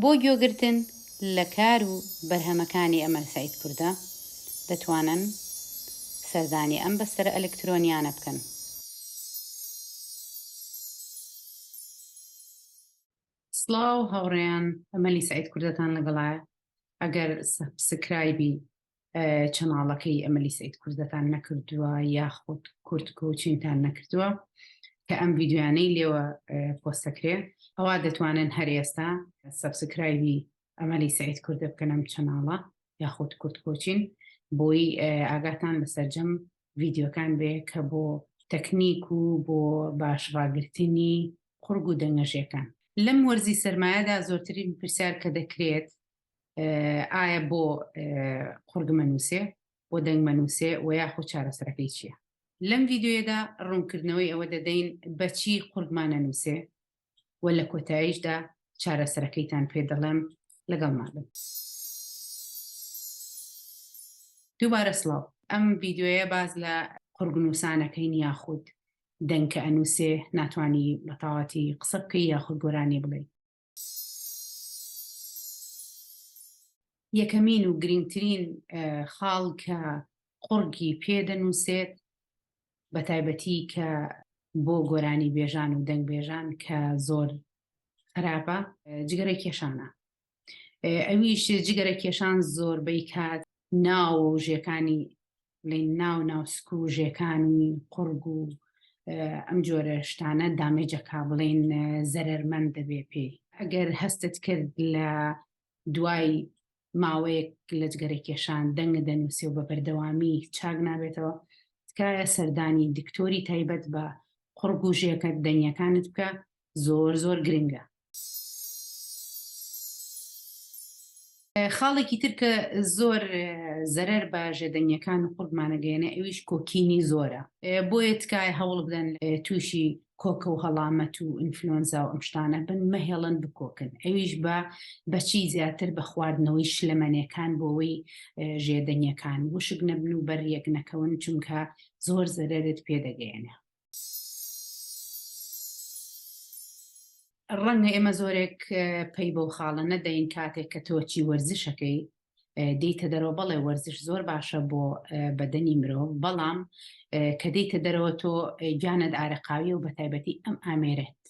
بۆ گوێگرتن لە کار و بەرهەمەکانی ئەمەل سەید کوردە، دەتوانن سەردانی ئەم بەستەرە ئەلکترۆنیانە بکەن. سڵاو هاوڕێیان ئەمەلی سەید کوردەتان لەگەڵایە ئەگەر سەبسکرایبی چەناڵەکەی ئەمەلی سعید کوردەتان نەکردووە یاخود کورد کۆچینتان نەکردووە کە ئەم ویددیوانەی لێوە پۆستەکرێ ئەوە دەتوانن هەر ئێستا سەبسکرایبی ئەمەلی سعید کوردە بکەن ئەم چەناڵە یاخود کورد کۆچین بۆی ئاگاتان لە سەررجەم ویددیوەکان بێ کە بۆ تەکنیک و بۆ باش ڕاگررتنی قڕگ و دەنگەژەکان لەم وەرزی سرمایەدا زۆرترین پرسیار کە دەکرێت ئایا بۆ قوڕگ مەنووسێ بۆ دەنگ مەنووسێ و یاخۆ چارەسەرەکەی چییە؟ لەم ڤیدیۆیەدا ڕوونکردنەوەی ئەوە دەدەین بەچی قوڕگمان ئەنووسێ و لە کۆتاییشدا چارەسەرەکەیتان پێ دەڵێم، لەگەڵمان بن. دووبارە سڵاو، ئەم ڤیدیۆیە باس لە قوڕگ نووسان ئەکەین یاخود دەنگ کە ئەنووسێ ناتوانی بە تەواوەتی قسە بکەی یاخود گۆرانی بڵێی. یەکەمین و گرینگترین خاڵ کە قوڕگی پێ دەنووسێت بە تایبەتی کە بۆ گۆرانی بێژان و دەنگ بێژان کە زۆر خراپە جگەرە کێشانە ئەویش جگەرە کێشان زۆربەی کات ناو و ژێکانی بڵین ناو ناو سکو و ژێکانی قوڕگ و ئەم جۆرە شتانە دامێجەکە بڵین زەرمەند دەبێ پێی ئەگەر هەستت کرد لە دوای ماوەیەک لە جگەرە کێشان دەنگ دەنووسێ و بە بەردەوامی چاک نابێتەوە تکایە سەردانی دکتۆری تایبەت بە قڕگوژیەکە دەنگەکانت بکە زۆر زۆر گرنگە خاڵێکی تر کە زۆر زەرەر بە ژێدەنگیەکان و قورگمان ئەگەیەنێ ئەویش کۆکینی زۆرە بۆیە تکایە هەوڵ بدەن تووشی کۆکە و هەڵامەت و ئینفلۆنزا و ئەم شتانە بن مەهێڵن بکۆکن ئەویش بە بەچی زیاتر بە خواردنەوەی شلەمەنێکان بۆەوەی ژێدەنگیەکان وشک نەبن و بەریەک نەکەون چونکە زۆر زەرەرت پێدەگەیەنێ ڕەنگە ئێمە زۆرێک پەی بەو خاڵە نەدەین کاتێک کە تۆچی وەرزشەکەی دێیتە دەرەوە بەڵێ وەرزش زۆر باشە بۆ بەدەنی مرۆڤ بەڵام کە دێیتە دەرەوە تۆ گیانت ئارەقاویە و بە تایبەتی ئەم ئامێرێت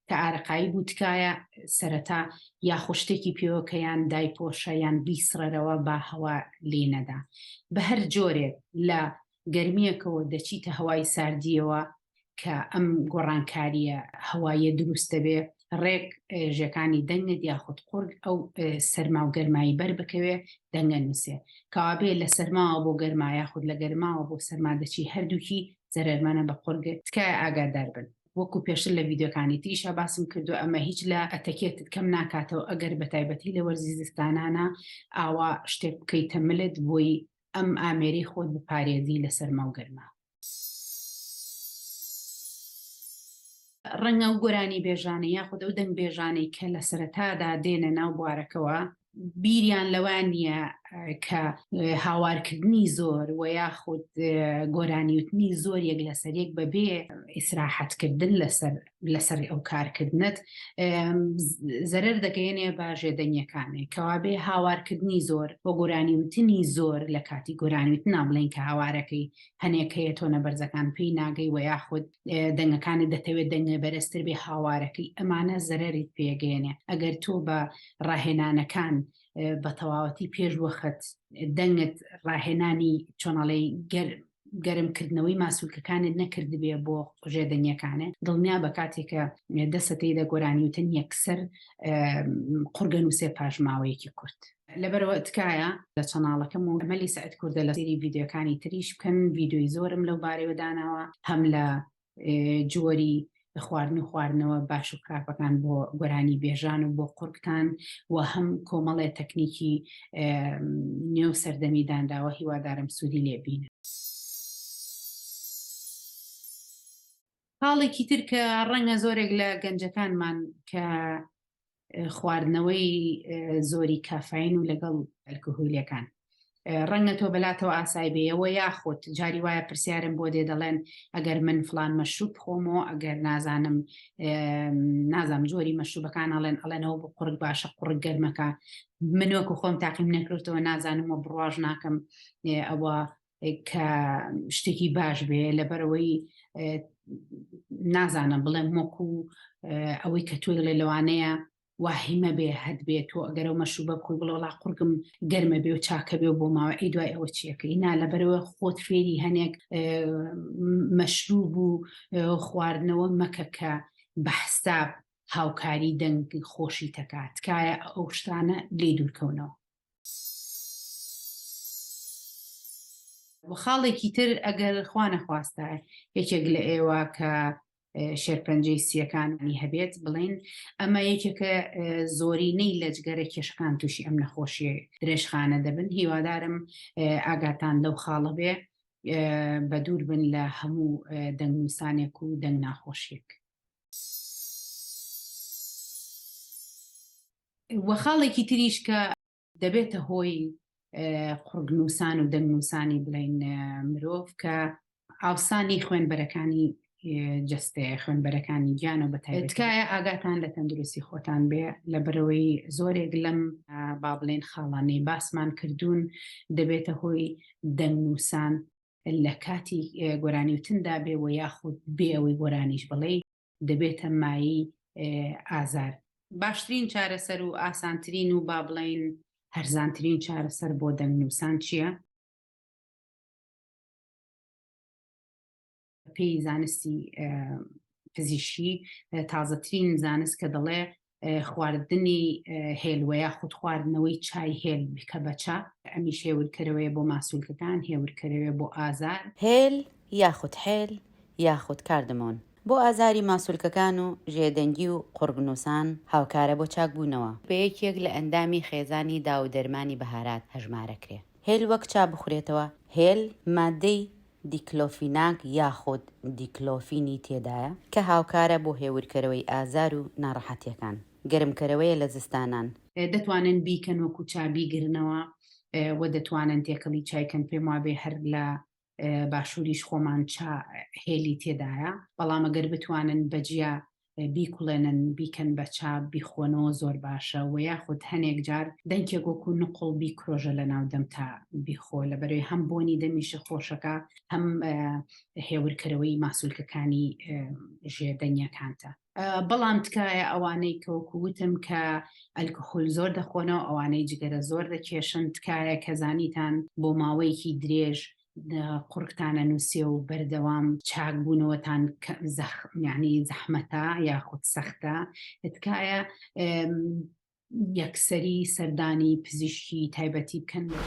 کە ئارەقایی بوو تکایە سەرەتا یاخۆ شتێکی پێوە کە یان دایپۆشە یان بیسڕەرەوە با هەوا لێ نەدا بە هەر جۆرێک لە گەرمیەکەوە دەچیتە هەوای ساردیەوە کە ئەم گۆڕانکاریە هەوایە دروست دەبێ ڕێک ژەکانی دەنگت یاخود قورگ ئەو سەرما و گەرمایی بەر بکەوێ دەنگە نووسێ کاوابێ لە سەرماوە بۆ گەرما یاخود لە گەرماوە بۆ سەرما دەچی هەردووکی زەرەرمانە بە قورگێت تکایە ئاگادار بن وەکو پێشتر لە ڤیدیۆکانی تریشا باسم کردوە ئەمە هیچ لە ئەتەکێتت کەم ناکاتەوە ئەگەر بە تایبەتی لە وەرزی زستانانە ئاوا شتێک بکەیتە ملت بۆی ئەم ئامێری خۆت بپارێزی لە سەرما و گەرما. ڕەنگە ئەو گۆرانیبێژانە یاخود ئەو دەنگبێژانەی کە لە سەرەتادا دێنە ناو بوارەکەوە بیریان لەوە نییە کە هاوارکردنی زۆر و یاخود گۆرانیوتنی زۆر یەک لەسەر یەک بەبێ ئیسراحەتکردن لەسەر لەسەر ئەو کارکردنت زەرەر دەگەێنێ بە ژێدەنگەکانی کەوابێ هاوارکردنی زۆر بۆ گۆرانیوتنی زۆر لە کاتی گۆرانیوت نابڵێن کە هاوارەکەی هەنێک هەیە تۆ نەبەرزەکان پێی ناگەی و یاخود دەنگەکانی دەتەوێت دەنگە بەرزتر بێ هاوارەکەی ئەمانە زەرری پێگەێنێ ئەگەر تۆ بە ڕاهێنانەکان بە تەواوەتی پێش وەخت دەنگت ڕاهێنانی چۆناڵی گەر گەرمکردنەوەی ماسوولکەکانت نەکردبێ بۆ قژێ دەنگەکانە دڵنیا بە کاتێکە دەسەتەی دە گۆرانیوتن یەکسەر قورگە نووسێ پاشماوەیەکی کورت لەبەرەوە تکایە لە چەناڵەکەم و مەلی سعد کوردە لە سری یددیوەکانی تریش بکەن یددیوی زۆرم لەو بارەوە داناوە هەم لە جۆری خواردن و خواردنەوە باش و خراپەکان بۆ گۆرانی بێژان و بۆ قورکتان و هەم کۆمەڵێ تەکنیکی نێو سەردەمی دانراوە هیوادارم سوودی لێبین. خاڵێکی تر کە ڕەنگە زۆرێک لە گەنجەکانمان کە خواردنەوەی زۆری کافین و لەگەڵ ئەلکهولەکان ڕەنگە تۆ بەلاتەوە ئاسای بێەوە یاخود جاری وایە پرسیارم بۆ دێ دەڵێن ئەگەر من فلان مەشروب خۆمەوە ئەگەر نازانم نازام جۆری مەشروبەکان ئەڵێن ئەڵێنەوە بۆ قڕک باشە قڕک گەرمەکە منۆکو خۆم تاقیم نەکردەوە نازانم و بڕواژ ناکەم ئەوە کە شتێکی باش بێ لەبەرەوەی نازانم بڵێم وەکو ئەوەی کە تۆی لێ لەوانەیە واهیمە بێ هەت بێت تۆ ئەگەرەوە مەشوو بە کوی بڵۆڵا قورگم گەرمە بێ و چاکە بێ و بۆ ماوە ئی دوای ئەوە چیەکەی نا لەبەرەوە خۆت فێری هەنێک مەشروب و خواردنەوە مەکە کە بە حساب هاوکاری دەنگ خۆشی تەکات تکایە ئەو شتانە لێ دوورکەونەوە و خاڵێکی تر ئەگەر خوا نەخواستە یەکێک لە ئێوە کە شێرپەنجەی سییەکانی هەبێت بڵین ئەمە یەکێکە زۆرینەی لەجگەرە کێشەکان تووشی ئەم نەخۆشیە درێژخانە دەبن هیوادارم ئاگاتان لەو خاڵە بێ بە دوور بن لە هەموو دەنگنووسانێک و دەنگ ناخۆشیێک. وە خاڵێکی تریش کە دەبێتە هۆی قڕگنووسان و دەنگنووسانی بڵین مرۆڤ کە ئاوسانی خوێنبەرەکانی جستەیە خوێنبەرەکانی گیان و بەتایتکایە ئاگاتان لە تەندروستی خۆتان بێ لە بەرەوەی زۆرێک لەم با بڵێن خاڵانەی باسمان کردوون دەبێتە هۆی دەنگنووسان لە کاتی گۆرانیوتندا بێ و یاخود بێ ئەوەی گۆرانیش بڵێ دەبێتە مایەی ئازار. باشترین چارەسەر و ئاسانترین و با بڵێین هەرزانترین چارەسەر بۆ دەنگنووسان چییە؟ پێی زانستی پزیشکی تازەترین زانست کە دەڵێ خواردنی هێل وە یاخود خواردنەوەی چای هێل کە بە چا، ئەمیش هێورکەرەوەیە بۆ ماسولکەکان، هێورکەرەوەیە بۆ ئازار. هێل یاخود حێل یاخود کاردمۆن بۆ ئازاری ماسولکەکان و ژێدەنگی و قوڕگنووسان، هاوکارە بۆ چاکبوونەوە. بە یەکێک لە ئەندامی خێزانی داوودەرمانی بەهارات هەژمارەکرێ. هێل وەک چا بخورێتەوە، هێل ماددەی دیکلۆفیناک یاخود دیکلۆفینی تێدایە کە هاوکارە بۆ هێورکەرەوەی ئازار و ناڕەحەتیەکان. گەرمکەرەوەیە لە زستانان. دەتوانن بیکەن وەکو چا بیگرنەوە وە دەتوانن تێکەڵی چای کەن پێم وابێ هەر لە باشوریش خۆمان چا هێلی تێدایە بەڵام گەر بتوانن بە جیا بیکوڵێنن بیکەن بە چا بیخۆنەوە زۆر باشە وە یاخود هەنێک جار دەنکێک وەکو نقوڵ بیکرۆژە لەناو دەمتا بیخۆ لەبەرەی هەم بۆنی دەمیشە خۆشەکا هەم هێورکەرەوەی ماسولکەکانی ژێ دەنگیەکانتە بەڵام تکایە ئەوانەی کەوەکو وتم کە ئەلکحول زۆر دەخۆنەوە ئەوانەی جگەرە زۆر دەکێشن تکایە کەزانیتان بۆ ماوەیەکی درێژ قڕکتانە نووسێ و بەردەوام چاک بوونەوەتان زەخمیانی زەحمەتە یاخود سەختە تکایە یەکسەری سەردانی پزیشکی تایبەتی بکەن بە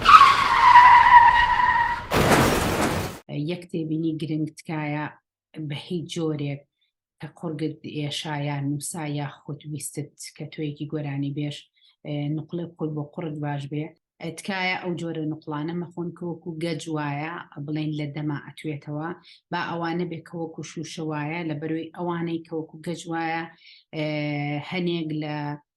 یەک تێبینی گرنگ تکایە بە هیچ جۆرێک کە قوڕگت ئێشا یا نووسا یا خۆت ویستت کە تۆیەکی گۆرانی بێش نقلە خۆی بۆ قوڕت باش بێ تکایە ئەو جۆرە نقلانە مەخۆن کەوەکو گەج وایە بڵێن لە دەما ئەتوێتەوە با ئەوانە بێ کەوەکو شوشە وایە لە بەروی ئەوانەی کەوەکو گەج وایە هەنێک لە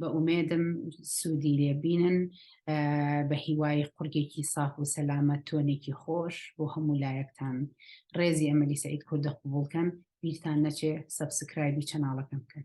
بە ئومێدم سوودی لێ بینن بە هیوای قورگێکی ساف و سەلامەت تۆنێکی خۆش بۆ هەموو لایەکتان ڕێزی ئەمەلی سعید کوردە قوبولکەن بیرتان نەچێ سەبسکرایبی چەناڵەکەم بکەن